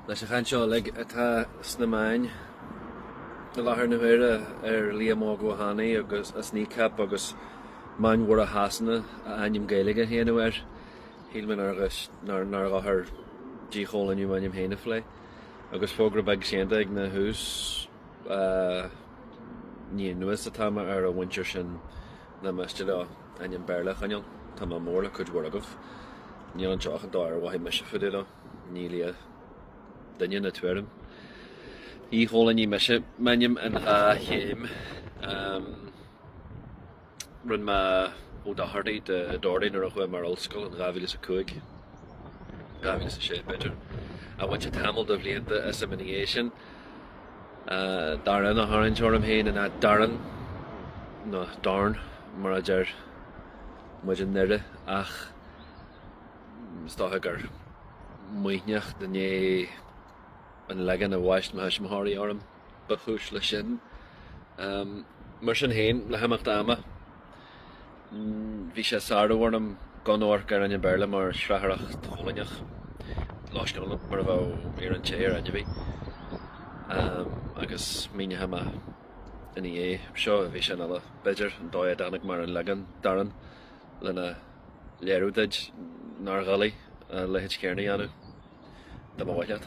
Leis an chaint seo uilig atá sna meáin i láthair na huaire ar Liam Óg Ó hAnnaidh agus as Kneecap agus Meáin Mhóra Shasana a ainm Gaeilge a shéanadh air, shíl mé nár dhochar díchoilíniú m'ainm féin a phlé. Agus fógra beag séanta ag a thús, ní anuas atá mé ar an mhuintir sin. nach miste leo ainm Béarla a choinneáil. Tá mé mór le cuid mhór agaibh. Níl anseo ach an dóigh ar mhothaigh mise fá dtaobh de leo. Ní lia duine ná tuairim. Dhíchoilínigh mise m'ainm in dhá chéim. Rinne mé Ó Dochartaigh de Doherty nuair a chuaigh mé ar ollscoil in 2005, 2006 b'fhéidir. Ach bhain sé tamall de bhlianta asam ina dhiaidh sin. Darán a tharraingt orm féin in áit Darren, nó Dorn mar a deir muid i nDoire, ach is dócha gur maoithneacht i ndiaidh an leagain a bhaist mo thuismitheoirí orm ba chúis leis sin. Mar sin féin, le himeacht ama. Bhí sé ag sárú orm gan amharc ar ainm Béarla mar shrathair choilíneach loiscneach mar a bheadh iarann te ar ainmhí, agus míneochaidh mé ina dhiaidh seo i bhfíseán eile, b'fhéidir, an dóigh a dtáinig mé ar an leagan Darán lena léiriú duid nár dhoiligh a leithéid chéanna a dhéanamh, dá mba mhaith leat.